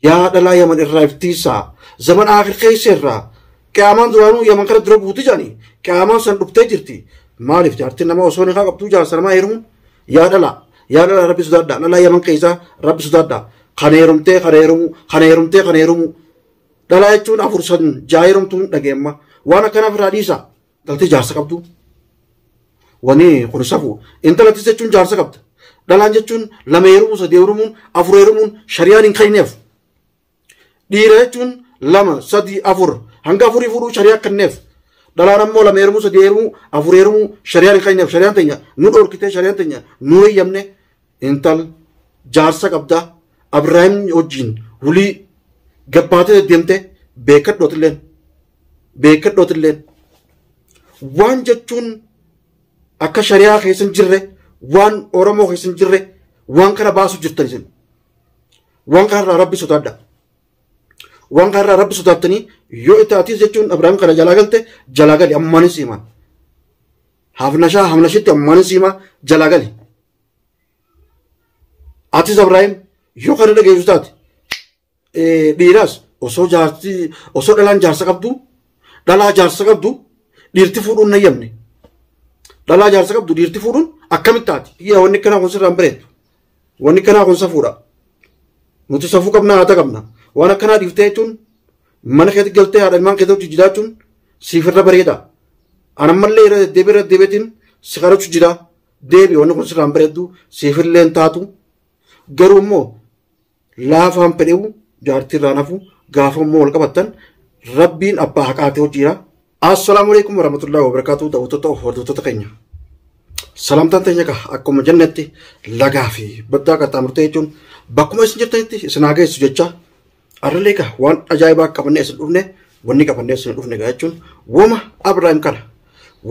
Yaa dhalaa yaman irraa iftiisaa zaman aakir keessa irraa qiyaamaan duraanuu yaman kana dura buuti jedhani qiyaamaan san dhuftee jirti maaliif jaartiin nama osoo nikaa qabduu jaarsa namaa heerumuun yaa dhalaa yaa dhalaa rabbi sodaadhaa dhalaa yaman keessaa rabbi sodaadhaa kan heerumtee kan heerumuu kan heerumtee kan heerumuu dhalaa jechuun afur san jaa heerumtuun dhageemma waan akkanaaf irraa dhiisaa. Dhaltee jaarsa qabdu. Wani kun safu. Intalattis jechuun jaarsa qabda. Dhalaan jechuun lama heerumuu, sadii heerumuun, afur heerumuun shariyaan hin kenneef. Dhiira jechuun lama, sadii, afur. Hanga afurii fuudhuu shariyaa kenneef. Dhalaan ammoo lama heerumuu, sadii heerumuu, afur heerumuu shariyaan hin kenneef. Shariyaan teenya nu dhorkitee, shariyaan teenya nu heeyyamne. Intal jaarsa qabda. Abiraahim wajjin wulii gabbaatee deemte beekadhu atilleen. beekadhootilleen waan jechuun akka shari'aa keessa hin jirre waan oromoo keessa hin jirre waan kana baasu jirtan isin waan kanarraa rabbi sodaadha waan kanarraa rabbi sodaattanii yoo itti atiis jechuun abrahaam kana jalaa galte jalaa gali ammaanis himaa hafnashaa hafnashitti ammaanis himaa jalaa gali atis abrahaam yoo kana dhageessu taate Dhiiraas osoo jaarsi osoo dhalaan jaarsa qabdu dhalaa jaarsa qabdu dhiirti fuudhuun na yamne. Dhalaa jaarsa qabdu dhiirti fuudhuun akkamitti taati? Yaa wanni kanaa kun sirraan bareedu. Wanni kanaa kun safuudha. Nuti safuu qabnaa haata qabna. Waan akkanaa dhiiftee jechuun mana keetti galtee haadha ilmaan keetti hojii jiraachuun siif irra bareeda. Anammallee irra deddeebi'ee irra deddeebi'eetiin si kadhachu jira. Deebi wanni kun sirraan bareedu siif illee hin taatu. Garuu immoo laafaan fedhewu jaartii irraan hafu gaafa immoo wal qabattan rabbiin abbaa haqaatee hojiira. Assalaamu alaikum warahmatullahi wabarakatuh daawwattoota of hordoftoota keenya. Salaamtaan teenya egaa akkuma jennetti lagaa fi baddaa qaxxaamurtee jechuun bakkuma isin jirtanitti isin haa geessu jecha arrillee egaa waan ajaa'ibaa qabannee isin dhufne wanni qabannee isin dhufne egaa jechuun woma Abiraayim kana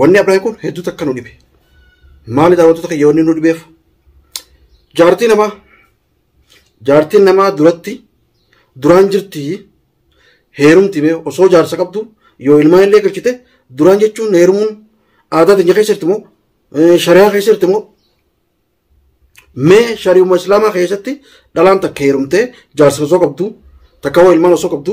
wanni Abiraayim kun hedduu takka nu dhibe. Maali daawwattoota keenya wanni nu dhibeef? Jaartii namaa Jaartiin namaa duratti duraan jirti heerumti mee osoo jaarsa qabdu yoo ilmaan illee galchite duraan jechuun heerumuun aadaa teenya keessa jirti moo shari'aa keessa jirti moo mee shari'uma islaamaa keessatti dhalaan takka heerumtee jaarsa osoo qabdu takka hoo ilmaan osoo qabdu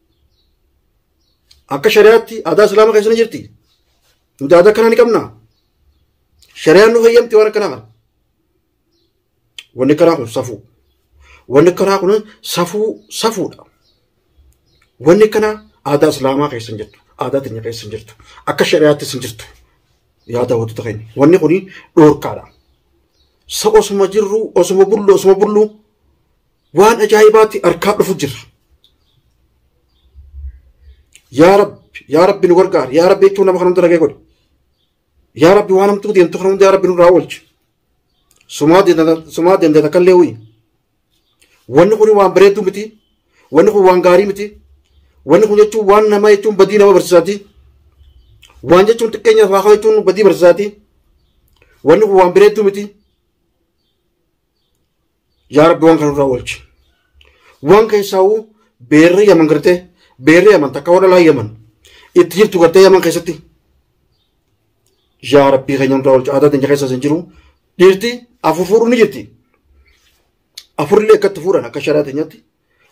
Akka shari'aatti aadaa islaama keessa ni jirti. Nuti aadaa akkanaa ni qabna. Shari'aan nu fayyamti waan akkanaa kana. Wanni akkanaa kun safuu. Wanni akkanaa kun safuu safuudha. Wanni akkanaa aadaa islaamaa keessa hin jirtu. Aadaa teenya keessa hin jirtu. Akka shari'aattis hin jirtu. Yaa daawwattoota keenya. Wanni kun dhorkaadha. Sa osuma jirru osuma bullu osuma bullu waan ajaa'ibaatti harkaa dhufu jirra. Yaa Rabbi, yaa Rabbi nu gargaari, yaa Rabbi jechuun nama kan hunda dhagee godhe. Yaa Rabbi waan hamtuu deemtu kan hunda yaa Rabbi nurraa oolchi. Sumaa deendata- sumaa deendata kan leewwi. Wanni kun waan bareedduu miti. Wanni kun waan gaarii miti. Wanni kun jechuun waan namaa jechuun badii nama barsiisaati. Waan jechuun xiqqeenya lafaa ka'u jechuun badii barsiisaati. Wanni kun waan bareedduu miti. Yaa Rabbi waan kana irraa oolchi. Waan keessaa'u beerri yaman gartee beerri yaman takka warra laa yaman itti jirtu gartee yaman keessatti. Yaa Rabbi keenya irraa oolchi aadaa teenya keessas hin jiru. Dhiirti afur fuudhuun ni jirti. Afurri akka itti fuudhan akka sharaa teenyatti.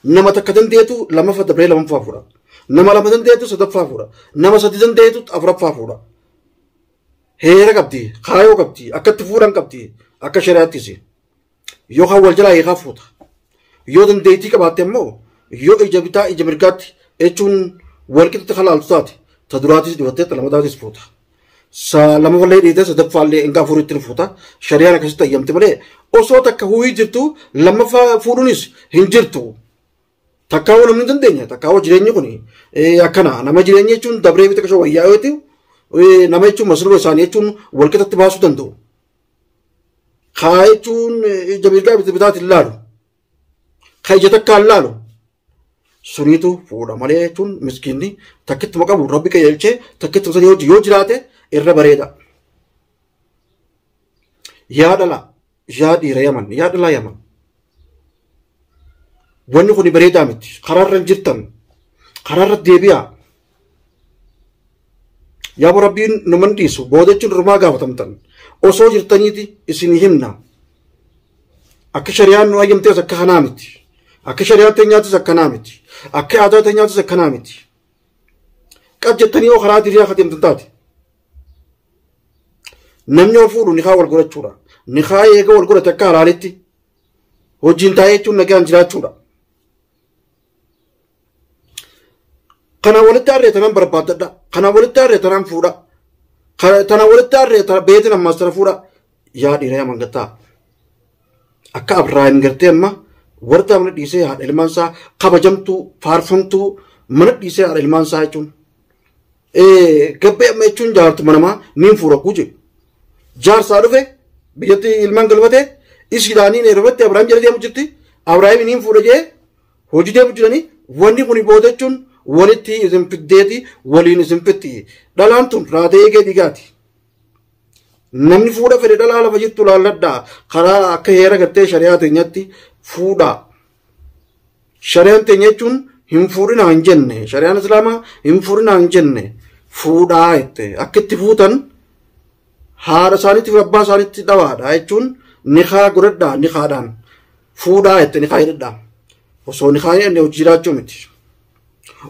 Nama takka dandeetu lamaffa dabree lamaffaa fuudha. Nama lama dandeetu sadaffaa fuudha. Nama sadi dandeetu afuraffaa fuudha. Heera qabdi, kaayoo qabdi, akkatti fuudhan qabdi, akka shari'aattis. Yoo kan wal jalaa hiikaa fuuta. Yoo dandeettii qabaatte immoo yoo ija bitaa ija mirgaatti jechuun wal qixatti kan laaltu taate ta duraatis dhibattee ta lamataatis fuuta. Sa lama wallee dhiitee sadaffaa illee hanga afuritti ni fuuta. Shari'aan akkasitti ayyamti malee osoo takka huuhii jirtu lammaffaa fuudhuunis hin jirtu. Takkaa waan hin dandeenya takkaa jireenyi kun akkana nama jireenya jechuun dabree miti qashoo wayyaa yoo ta'u nama jechuun masluura isaanii jechuun wal qixatti baasuu danda'u. Kaa jechuun ija mirgaa miti bitaati hin laalu. Kaa ija takkaa hin laalu. Suniitu fuudha malee jechuun miskiinni takkittuma qabu rabbi qajeelchee takkittuma sanii hojii yoo jiraate irra bareeda. Yaa dhala yaa dhiira yaman yaa dhalaa yaman wanni kun bareedaa miti karaarra hin jirtan karaarra deebi'aa yaa bo rabbiin numan dhiisu booda jechuun rumaa gaafatamtan osoo jirtaniiti isin himna akka shari'aan nu ayyamtees akka kanaa miti akka shari'aa teenyaatis akkanaa miti akka aadaa teenyaatis akkanaa miti qab jettanii yoo karaa diriyaa kadeemtan taate Namni yoo fuudhu nikaa wal godhachuudha. Nikaa eega wal godhate akka halaalitti hojiin taa'ee jechuun nagaan jiraachuudha. Kana walitti harree tanaan barbaaddadha. Kana walitti harree tanaan fuudha. Kana- Tana walitti harree tana beetin ammaas tana fuudha. Yaa dhiira yaa mangattaa. Akka Abrahaam gartee amma wardaa mana dhiisee haadha ilmaan isaa kabajamtuu faarfamtuu mana dhiisee haadha ilmaan isaa jechuun. Eh, Gabbee amma jechuun jaartuma namaa niin fuura kuu jedhu. Jaarsaa dhufe biyyatti ilmaan galfate ishiidhaa niin eerofatte Abiraam jala deemu jirti. Abiraam niin fuudha jee hojii deemu jiranii wanni kun booda jechuun walitti isin fiddeeti waliin isin fitti. Dhalaan tun raatee eegee dhiigaati. Namni fuudha fedhe dhalaa lafa jirtu laalladhaa karaa akka heera gartee shari'aa teenyatti fuudhaa. Shari'aan teenya jechuun hin fuudhinaa hin jenne. Shari'aan Islaamaa hin fuudhinaa hin jenne. Fuudhaa jette. Akka itti fuutan haadha isaaniitiif abbaa isaaniitti dhawaadha jechuun nikaa godhadhaa nikaadhaan. Fuudhaa jette nikaa hidhadhaa. Osoo nikaa hin hidhanne hojii jiraachuu miti.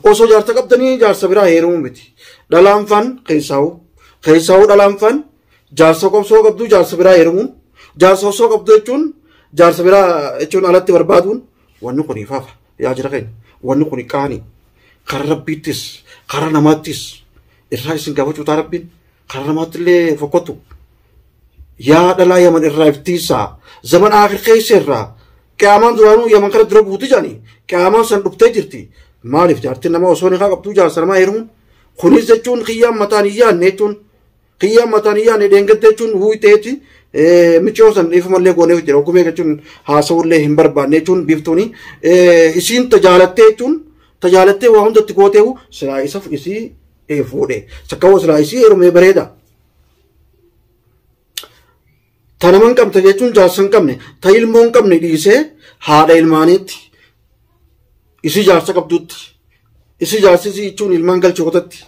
Osoo jaarsa qabdanii jaarsa biraa heerumuu miti. Dhalaan faan keessaa'u. Keessaa'u dhalaan faan jaarsa qobsoo qabdu jaarsa biraa heerumuun jaarsa osoo qabdu jechuun jaarsa biraa jechuun alatti barbaaduun wanni kun ifaafa yaa jira keenya wanni kun qaanii karaa rabbiittis karaa namaattis irraa isin gaafachuu taa rabbiin karaa namaatti illee fokkottu yaa dhalaa yaman irraa iftiisaa zaman aakir keessa irraa qiyaamaan duraanuu yaman kana dura buuti jedhanii qiyaamaan san dhuftee jirti maaliif jaartiin nama osoo nikaa qabdu jaarsa namaa heerumuun kunis jechuun kiyyaan mataan hin yaadne jechuun Kiyya mataan hin yaane dheengadda jechuun huuteeti miciyoo san dhiifamallee goonee jira ogumee jechuun haasawullee hin barbaanne jechuun biiftuuni isiin tajaalattee jechuun tajaalattee waa hundatti gootee silaa isaf isii fuudhe sakkawoo silaa isii heerumee bareeda. Ta nama hin qabne jechuun jaarsa hin qabne ta ilmoo hin qabne dhiisee haadha ilmaaniitti isii jaarsa qabduutti isii jaarsi isii jechuun ilmaan galche kotatti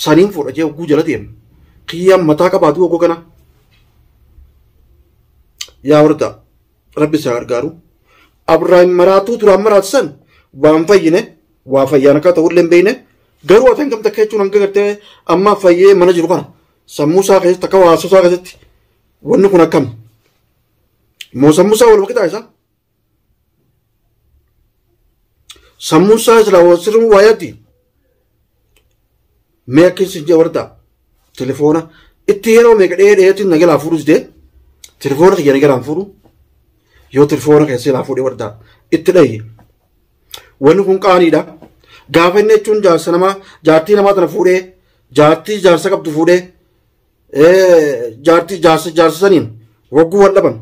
saniin fuudha jee oguu jala deema kiyyaan mataa qabaatu oguu kana yaa wardaa rabbi isaa gargaaru abraahim maraatuu duraan maraatisan waan fayyine waa fayyaan akka ta'ullee hin beekne garuu atan gamta kechuun hanga gartee amma fayyee mana jiru kana sammuu isaa keessatti akka haasoo isaa keessatti wanni kun akkam moo sammuu isaa wal maqitaa isaa sammuu isaa silaa wal sirriin waa yaaddi mee akka isin jee warda telefoona itti yeroo meeqa dhee dheetti na jalaa fuudhus dee telefoona kiyya na jalaan fuudhu yoo telefoona keessee laa fuudhee warda itti dhayye Wanni kun qaaniidha. Gaafa inni jechuun jaarsa namaa jaartii namaa tana fuudhee jaartii jaarsa qabdu fuudhee jaartii jaarsa jaarsa saniin hogguu wal dhaban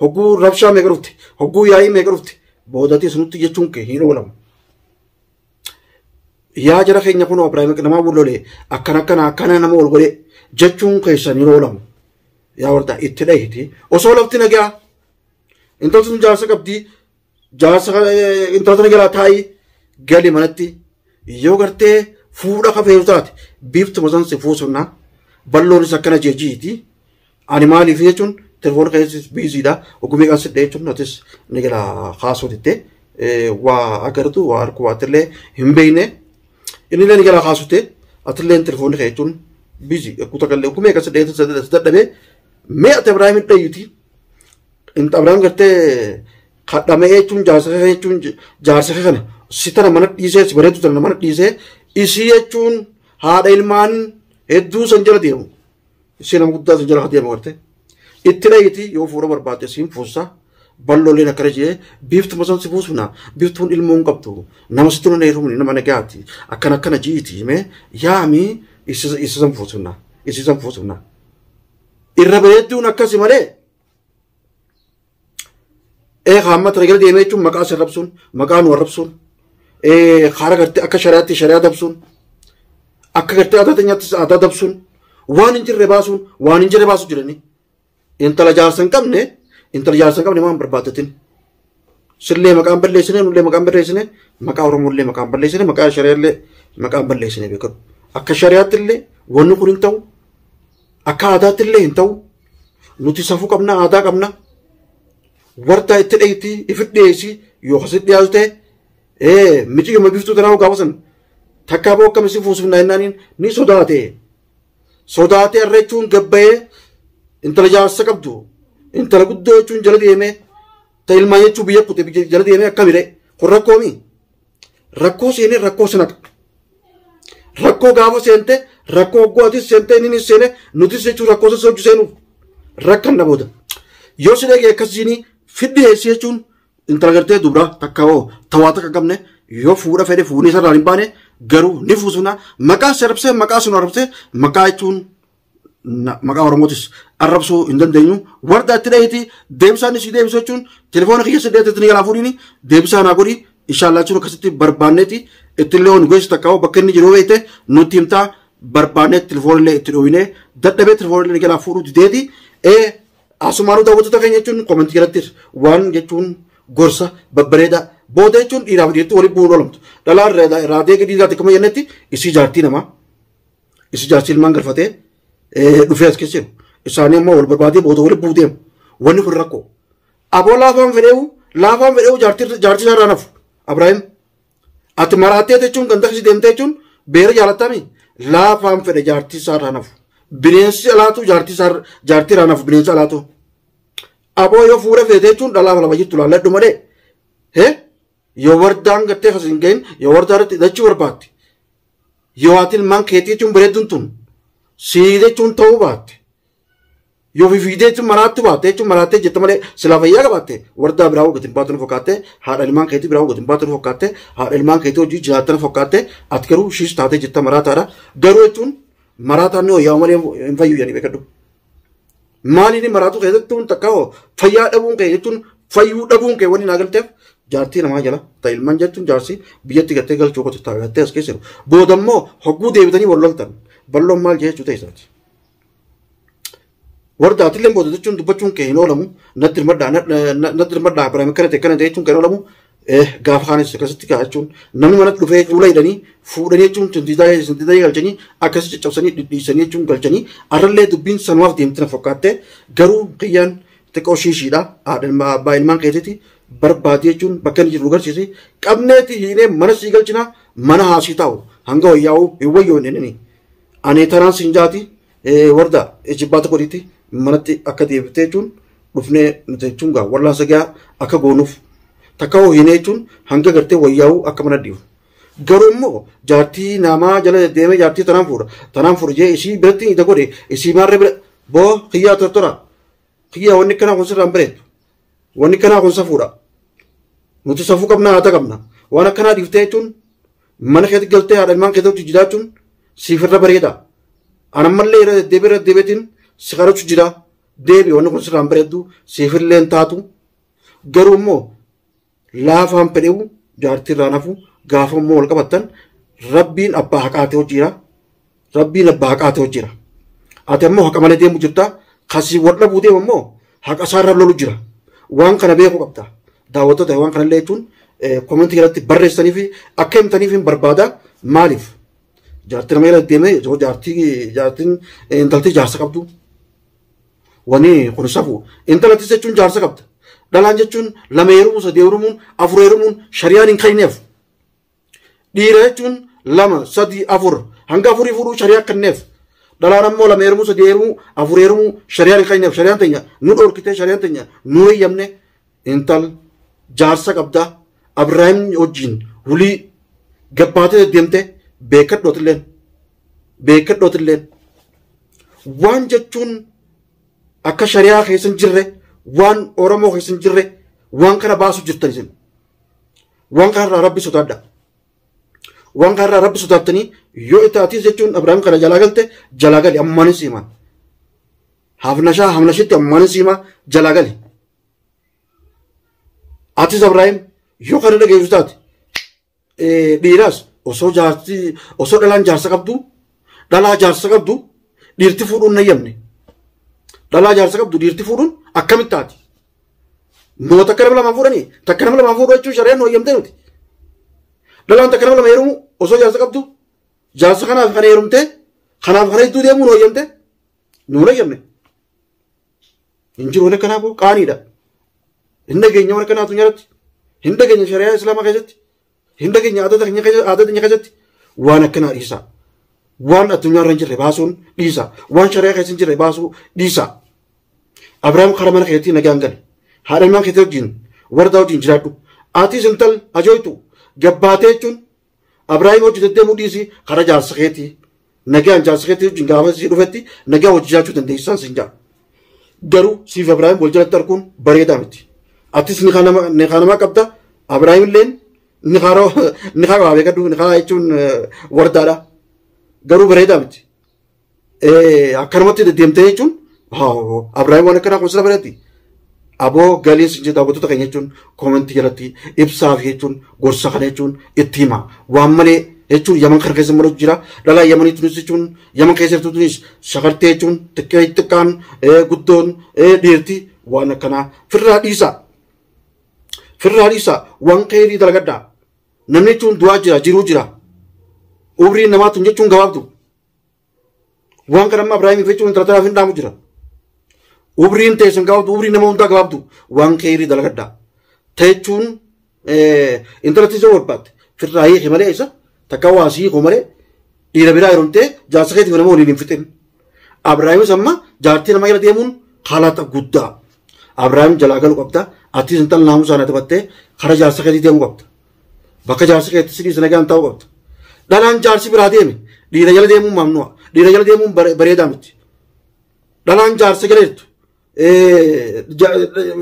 hogguu rabshaa meeqa dhufte hogguu yaa'ii meeqa dhufte boodatee sunutti jechuun kee hin oolamu. Yaa jara keenya kun Abiraayim namaa bullolee akkana akkana akkana nama ol godhee jechuun keessan hin oolamu. Yaa wardaa itti dhahiti osoo lafti nagaa intalli sun jaarsa qabdii jaarsa kana eh, intala tana jalaa taa'ii gali manatti yoo gartee fuudha kafeeru taate biiftuma san si fuusunna balloonis akkana jeejiiti ani maaliif jechuun telefoon keessis biiziidha ogumii kan sidhe jechuun atis ni gala kaasuu ditte eh, waa agartu waa arku waa atillee hin beekne inni illee ni gala kaasute atillee telefoonni kee jechuun biizii kuta gallee ogumii kan sidhe dadhabee mee ati Ibraahimin dhayyuti Xinxabraan gartee kadhamee jechuun jaarsa kee jechuun jaarsa kee kana si tana mana dhiisee si bareedu tana mana dhiisee isii jechuun haadha ilmaan hedduu san jala deemu. Isii nama guddaa san jala haa deemu gartee. Itti dhayiti yoo fuudha barbaadde siin fuussa bal'ooleen akkana jee biiftuma san si fuusuna biiftuun ilmoo hin qabdu nama sitti nuna heerumni nama nagaati akkana akkana jiiti himee yaami isa san fuusuna isii san fuusuna. Irra bareedduun akkasi malee. ee haamma tana jala deemee jechuun maqaa sin rabsuun maqaa nu arrabsuun ee kaara gartee akka shari'aatti shari'aa dabsuun akka gartee aadaa teenyaattis aadaa dabsuun waan hin jirre baasuun waan hin jirre baasuu jiranii intala jaarsa hin qabne intala jaarsa hin qabne waan barbaaddatin Sillee maqaan balleessine nullee maqaan balleessine maqaa Oromoollee maqaan balleessine maqaa shari'aallee maqaan balleessine beekamu. Akka shari'aatti illee wanni kun hin ta'u akka aadaatti illee hin ta'u nuti safuu qabna aadaa qabna wartaa itti dheeyti ifi dhiyeessi yoo kasi dhiyaatu ta'e ee miciyyuma biftuu tanaa gaafatan takkaa boo akkam isin fuusifnaa jennaaniin ni sodaate sodaatee arreechuun gabbayee intala jaarsa qabdu intala guddoo jechuun jala deemee ta ilmaa jechuu biyya kute biyya jala deemee akkamire kun rakkoo mi rakkoo seenee rakkoo sanadha rakkoo gaafa seente rakkoo hoggoo atis seente inni nis seene nutis jechuun rakkoo sassa hojii seenuuf rakkan na booda yoo si dhagee akkasiin fiddi heessi jechuun Intala gartee dubra takka hoo tawaa takka qabne yoo fuudha fedhe fuunee sararaan hin baane garuu ni fuusuna maqaa si arrabsee maqaa sun arrabsee maqaa jechuun na- maqaa oromootis arrabsuu hin dandeenyu warda itti dhaheeti deebisaan isii deebisu jechuun telefoona kiyya si dhaheetti ni galaa fuudhiini deebisaa naa godhi inshaallah jechuun akkasitti barbaanneeti ittillee waan nu geessu takka hoo bakka inni jiru beekte nutti himtaa barbaannee telefoonillee itti dhooyinee dadhabee telefoonillee ni galaa fuudhuu dideeti ee Asumaanuu daawwattoota keenya jechuun koomentii jalatti waan jechuun gorsa babbareedaa booda jechuun dhiiraa fi dhiirti waliin bu'uun oolmtu. Dhalaa raadee gadii irraatti akkuma jennetti isii jaartii namaa isii jaartii ilmaan galfatee dhufee as keessa jiru. Isaanii ammoo wal barbaadee booda waliin bu'uu deemu. Wanni kun rakkoo. Aboo laafaan fedheewu laafaan fedheewu jaartii isaa irraa nafu. Abiraahim Ati maraattee jechuun ganda kisi deemtee jechuun beera jaalattami laafaan fedha jaartii isaa irraa nafu. Bineensi alaatu jaartii isaa jaartii irraa nafu bineensi alaatu. Aboo yoo fuula feete jechuun dhalaa lama jirtu laalladhu malee. He yoo wardaan gattee kasi hin gahin yoo wardaa irratti hidhachuu barbaadde. Yoo ati ilmaan keetii jechuun bareedduun tun sii jechuun ta'uu baatte. Yoo ofii fiigdee jechuun maraattuu baatte jechuun maraattee jette malee silaa fayyaa qabaatte wardaa biraa hoggatiin baatu nu fakkaatte haadha ilmaan keetii biraa hoggatiin baatu nu fakkaatte haadha ilmaan keetii hojii jiraatta nu fakkaatte ati garuu shiis taatee jetta maraataadha garuu jechuun maraataan ni hoyyaa malee hin fayyu jedhanii beekadhu. Maaliin maraatuu keessatti tun takka hoo fayyaa dhabuun kee jechuun fayyuu dhabuun kee wanni naa galteef jaartii namaa jala ta'e ilmaan jechuun jaarsi biyyatti gattee galchuu qotu taa'ee gattee as keessa jiru. Booda immoo hogguu deebitanii wal loltan balloon maal jechuu ta'e isaati. Warda atillee booda jechuun dubbachuun kee hin oolamu. Natti hirmadhaa natti hirmadhaa Abiraam akkana ta'e akkana ta'e jechuun kan oolamu gaafa kaanis akkasitti ka'a jechuun namni manatti dhufee fuula hidhanii fuudhanii jechuun sintiitaa galchanii akkasii caccabsanii dhidhiisanii jechuun galchanii arrallee dubbiin sanumaaf deemti na fakkaatte garuu kiyyaan xiqqoo shiishiidha haadha abbaa ilmaan keetiiti barbaadi jechuun bakka inni jiru garsiisi qabneeti hiinee mana sii galchina mana haasii taa'u hanga wayyaa'u hin wayyoon inni. Ani taraan siin jaati warda ijibbaata godhiitti manatti akka deebite jechuun dhufnee nuti jechuun gaa wallaansa gaa akka goonuuf takka hoo hinee jechuun hanga gartee wayyaa'uu akka mana dhiifu. Garuu immoo jaartii namaa jala deemee jaartii tanaan fuudha tanaan fuudha jee isii biratti ija godhe isii maarree bira boo kiyyaa tortora kiyyaa wanni kanaa kun sirraan bareedu wanni kanaa kun safuudha nuti safuu qabna haata qabna waan akkanaa dhiiftee jechuun Mana keetti galtee haadha ilmaan keetti wajjin jiraachuun siif irra bareeda. Anammallee irra deddeebi'ee irra deddeebi'eetiin si kadhachu jira. Deebi wanni kun sirraan bareeddu siif illee hin taatu. Garuu immoo laafaan fedhewu jaartii irraan hafu gaafa immoo wal qabattan rabbiin abbaa haqaatee hojiira. Rabbiin abbaa haqaa ta'u jira. Ati ammoo haqa malee deemu jirta. Kasii wal dhabuu deemu ammoo haqa isaarra lolu jira. Waan kana beeku qabda. Daawwattoota waan kanallee jechuun komentii irratti barreessanii fi akka himtaniif hin barbaada. Maaliif? Jaartii nama irra deemee yoo jaartii jaartiin intalti jaarsa qabdu. Wani kun safu. Intalattis jechuun jaarsa qabda. Dhalaan jechuun lama heerumuun sadii heerumuun afur heerumuun shari'aan hin kayneef. Dhiira jechuun lama, sadii, afur hanga afurii fuudhuu shari'aa kenneef. Dhalaan ammoo lama heerumuu, sadii heerumuu, afur heerumuu shari'aan hin kenneef. Shari'aan teenya nu dhorkitee shari'aan teenya nu heeyyamne intal jaarsa qabda Abiraahim wajjin wulii gabbaatee deddeemte beekadhootilleen beekadhootilleen waan jechuun akka shari'aa keessa hin jirre waan Oromoo keessa hin jirre waan kana baasu jirtan isin. waan kanarraa rabbi sodaadha waan kanarraa rabbi sodaattanii yoo itti atiis jechuun abrahaam kana jalaa galte jalaa gali ammaanis himaa hafnashaa hafnashitti ammaanis himaa jalaa gali atis abrahaam yoo kana dhageessu taate eh, dhiiraas osoo jaarsi osoo dhalaan jaarsa qabdu dhalaa jaarsa qabdu dhiirti fuudhuun hin hayyamne dhalaa jaarsa qabdu dhiirti fuudhuun akkamitti taati Noo takka nama lamaan fuudhanii takka nama lamaan fuudhuu jechuun shari'aan nu hayyamtee miti. Dhalaan takka nama lama heerumu osoo jaarsa qabdu jaarsa kanaaf kana heerumtee kanaaf kana hedduu deemuu nu hayyamtee nu hin hayyamne. Hin jiru waan akkanaa kun qaaniidha. Hin dhageenya waan akkanaa addunyaa irratti. Hin dhageenya shari'aa islaamaa keessatti. Hunda keenya aadaa keenya keessa- aadaa keenya keessatti waan akkanaa dhiisaa. Waan addunyaa irra hin jirre baasuun dhiisaa. Waan shari'aa keessa hin jirre baasuu dhiisaa. Abiraam karaa mana keetii nagaan gali. Haadha ilmaan keetii wajjin wardaa wajjin jiraadhu. Atis intal ajooytu gabbaatee jechuun Abiraam hojii deddeemuu dhiisii karaa jaarsa keetii Nagaan jaarsa keetti wajjin gaafa si dhufetti nagaa wajji jiraachuu dandeessisaan siin jaa. Garuu siif Abiraahim wal jalatti arguun bareedaa miti. Atis nikaa nama nikaa namaa qabda Abiraahim illeen nikaa roo nikaa waa beekadhu nikaa jechuun eh, wardaadha. Garuu bareedaa miti. Eh, Akkanumatti deddeemtee jechuun haa Abiraahim waan akkanaa kun sila bareetti. Aboo galii sin jedha daawwattoota keenya jechuun koomentii jalatti ibsaa fi jechuun gorsa kana jechuun itti hima. Waan malee jechuun yaman kana keessa maluutu jira. Dhalaa yamanii tunis jechuun yaman keessa jirtu tunis shakartee jechuun xiqqee xiqqaan eh, guddoon eh, dhiirti waan akkanaa firraa dhiisa. Firraa dhiisa waan keerii dalagadha. Namni jechuun du'aa jira jiruu jira. Umriin namaa tun jechuun gabaabdu. Waan kana amma Ibraahim Irreechi wanta taraaf hin dhaamu jira. Ubriin teessan gabaabdu, ubriin nama hundaa gabaabdu waan keeyrii dalagadhaa. Teechuun intala tiisoo barbaadde firraa hiiki malee isa takka waa sii hiiku malee dhiira biraa yeromtee jaarsa keetii nama waliin hin fixin. Abraahimis amma jaartii nama jala deemuun haalata guddaa. Abraahim jalaa galu qabda. Atis intala naamusaa na taphattee kara jaarsa keetii deemuu qabda. Bakka jaarsi keetti si dhiise nagaan taa'uu qabda. Dhalaan jaarsi biraa deeme dhiira jala deemuun maamnu'a. Dhiira jala deemuun bare- bareedaa miti. Dhalaan jaarsa jala jirtu eh, ja-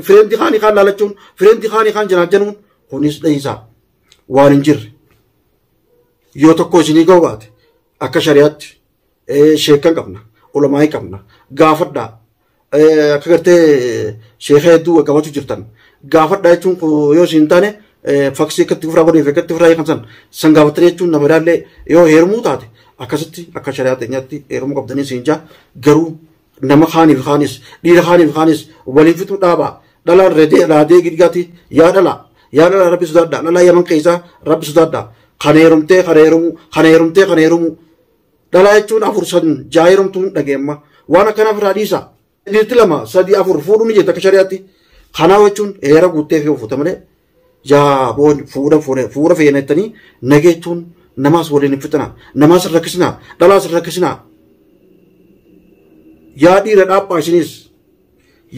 fireendi kaanii kaan laalachuun fireendi kaanii kaan janaajjanuun kunis dhahiisaa waan hin jirre. Yoo tokko isinii ga'u baate akka shari'aatti sheekkan qabna ulamaa'ii qabna gaafadhaa akka gartee sheeka hedduu gaggabatu jirtan gaafadhaa jechuun yoo isin hin taane faksii akkatti ofirraa godhee fi akkatti ofirraa hiikamsan san gaafattanii jechuun nama ilaallee yoo heerumuu taate akkasitti akka shari'aa teenyaatti heerumuu qabdanii isin jaa garuu nama kaaniif kaanis dhiira kaaniif kaanis waliin fixuu dhaabaa dhalaan redee raadee gidgaati yaa dhalaa yaa dhalaa rabbi sodaadhaa dhalaa yaman keessaa rabbi sodaadhaa kana heerumtee kana heerumuu kana heerumtee kana heerumuu Dhalaa jechuun afur san ja'a heerumtuun dhagee amma waan akkanaaf irraa dhiisa. Dhiirti lama sadii afur fuudhuu ni jirti akka shari'aatti. Kanaa jechuun heera guuttee fi ofuuta malee yaa boon fuudha fuune fuudha feena jettanii nageettuun namaas waliin hin fixinaa namaas hin rakkisinaa dhalaas hin rakkisinaa. Yaa dhiira dhaabaa isinis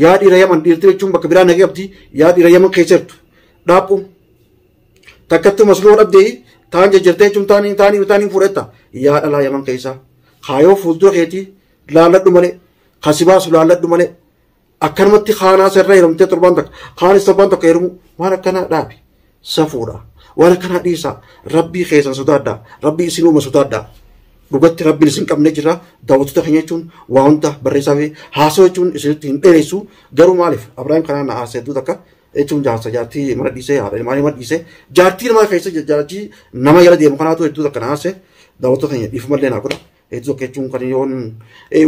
yaa dhiira yaman dhiirti jechuun bakka biraa nagee qabdi yaa dhiira yaman keessa jirtu dhaabuu. Takkattuu masloo dhabdee taan jajjartee jechuun taanii taanii taanii fuudhetta. Yaa dhalaa yaman keessaa. Kaayoo fuuldura keetii laalladhu malee. Kasi baasu laalladhu malee. Akkanumatti kaanaa sirra heerumtee torbaan takka. Kaanis torbaan tokko heerumu waan akkanaa dhaabi. Safuudha. Waan akkanaa dhiisaa. Rabbii keessan sodaadhaa. Rabbii isin uuma sodaadhaa. dhugatti rabbiin isin qabne jira daawwattoota keenya jechuun waa hunda barreessaa fi haasoo jechuun isinitti hin dheeressu garuu maaliif abrahaam kanaan na haasee hedduu takka jechuun jaarsa jaartii mana dhiisee haadha ilmaan ilma dhiisee jaartii ilmaa keessa jaartii nama jala deemu kanaatu hedduu takka naase daawwattoota keenya dhiifamallee naa godha hedduu takka jechuun kan yoon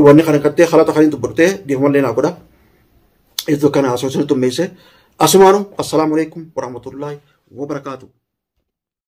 wanni kana gattee halata kan hin dubbadhee dhiifamallee naa godha hedduu kana haasoo isin xummeesse asumaanu assalaamu alaikum warahmatullaahi wabarakaatuh.